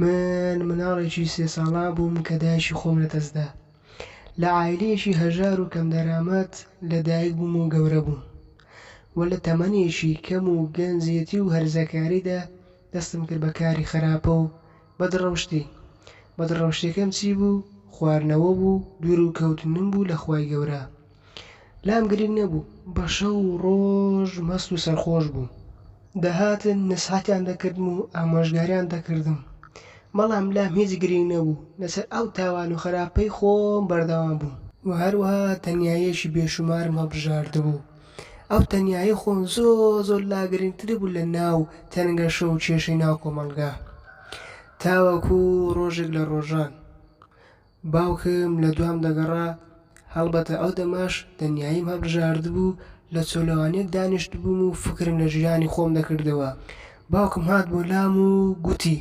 من مناڵێکی سێ ساڵان بووم کە دایکی خۆم لەدەستدا. لە عایلەیەکی هەژار و کەمدەرامەت لەدایک بووم و گەورە بووم و لە تەمەنێکی کەم و گەنجێتی و هەرزەکاریدا دەستم کرد بە کاری خراپە و بەدڕەوشتی، بەدڕەوشتیەکەم چی بوو، خوارنەوە بوو، دوورو کەوتنم بوو لە خوای گەورە. لام گرینگ نەبوو، بە شەو و ڕۆژ مەست و سەرخۆش بووم. دەهاتن نەسحەتیان دەکردم و ئامۆژگاریان دەکردم، بەڵام لام هیچ گرینگ نەبوو، لەسەر ئەو تاوان و خەراپەی خۆم بەردەوام بووم. وە هەروەها تەنیاییەکی بێشومارم هەڵبژاردبوو، ئەو تەنیایی خۆ زۆر زۆر لا گرنگتر بوو لە ناو تەنگەشە و کێشەی ناو کۆمەڵگا. تاوەکو ڕۆژێک لە ڕۆژان باوکم لە دوام دەگەڕا، هەڵبەتە ئەو دەمەش تەنیاییم هەڵبژاردبوو، لە چۆلەوانییەک دانیشتبووم و فکرم لە ژیانی خۆم دەکردەوە. باوکم هات بۆ لام و گوتی.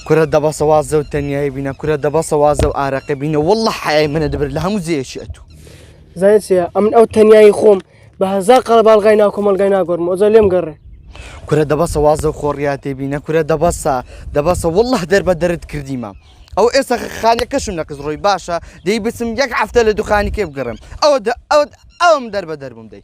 کورە دەبەسە وازە و تەنیایی بینە کورە دەبەسە وازە و ئارەقە بینە والله حەیای منە دەبر لە هەموو جێیەکی ئەتوو زانێت چیە ئەمن ئەو تەنیایی خۆم بە هەزار قەڵە باڵغای ناو کۆمەلگای ناگۆرم ئۆزە لێم گەڕێ کورە دەبەسە وازە و خۆڕیاتێ بینە کورە دەبەسە دەبەسە والله دەر بە دەرت کردیمە ئەو ئێستا خانەکەشم لە قزڕۆی باشە دەی بچم یەک هەفتە لە دوخانیکێ بگەڕم ئەوە ئەوت ئەوم دەر بە دەربووم دەی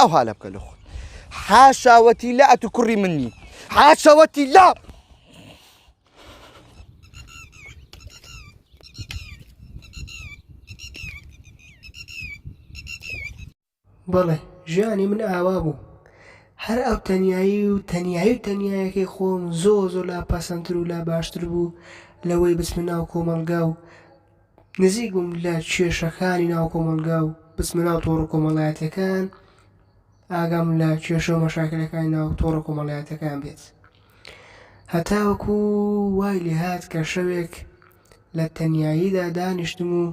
او هالا بکە لە خۆت حاشاوەتی لا ئەتو کوڕی من نی حاشاوەتی لا بەڵێ ژیانی من ئاوا بوو هەر ئەو تەنایی و تەنایی و تەنایەکەی خۆم زۆ زۆ لا پەسەندتر و لا باشتر بوو لەوەی بچمە ناو کۆمەڵگا و نزیک بووم لە کێشەکانی ناو کۆمەڵگا و بچمە ناو تۆڕە کۆمەڵایەتیەکان ئاگام لە کێشە و مەشاکلەکانی ناو تۆڕە کۆمەڵایەتەکان بێت هەتاوەکو وای لێهات کە شەوێک لە تەنیاییدا دانیشتم و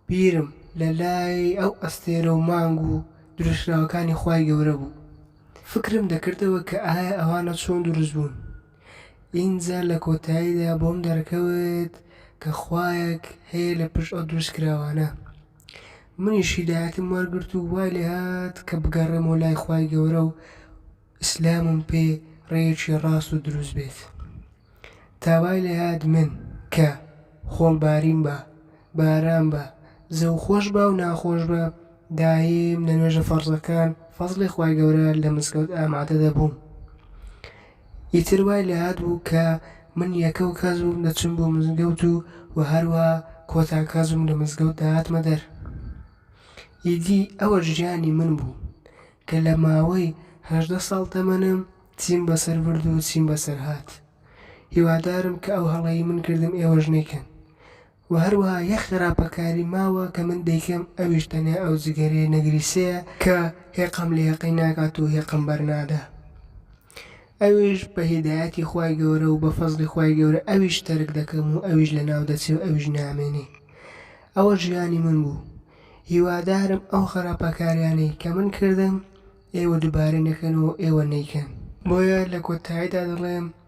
بیرم لە لای ئەو ئەستێرە و مانگ و دروستکراوەکانی خوای گەورە بوو فکرم دەکردەوە کە ئایا ئەوانە چۆن دروست بوون ئینجا لە کۆتاییدا بۆم دەرکەوت کە خوایەک هەیە لە پشت ئەو دروستکراوانە. منیش هیدایەتم وەرگرت و وای لێهات کە بگەڕێمەوە لای خوای گەورە و ئیسلامم پێ ڕێیەکی ڕاست و دروست بێت. تا وای لێهات من، کە، خۆڵ بارین بە، باران بە، زەو خۆش بە و ناخۆش بە، داییم لە نوێژە فەرزەکان، فەزڵی خوای گەورە، لە مزگەوت ئامادە دەبووم. ئیتر وای لێهات بوو کە من یەکەو کەس بووم دەچم بۆ مزگەوت و وە هەروا کۆتا کەس بووم لە مزگەوت دەهاتمە دەر. ئیدی ئەوە ژیانی من بوو کە لە ماوەی هەژدە ساڵ تەمەنم چیم بەسەر برد و چیم بەسەر هات. هیوادارم کە ئەو هەڵەی من کردم ئێوەش نەیکەن. وە هەروەها یەک خراپەکاری ماوە کە من دەیکەم ئەویش تەنیا ئەو جگەرەیە نەگریسەیە کە هێقەم لە یەقەی ناکات و هێقەم بەرنادا ئەویش بە هیدایەتی خوای گەورە و بە فەزڵی خوای گەورە ئەویش تەرک دەکەم و ئەویش لەناو دەچێ و ئەویش نامێنێ ئەوە ژیانی من بوو هیوادارم ئەو خراپەکاریانەی کە من کردم ئێوە دوبارەی نەکەن و ئێوە نەیکەن. بۆیە لە کۆتاییدا دەڵێم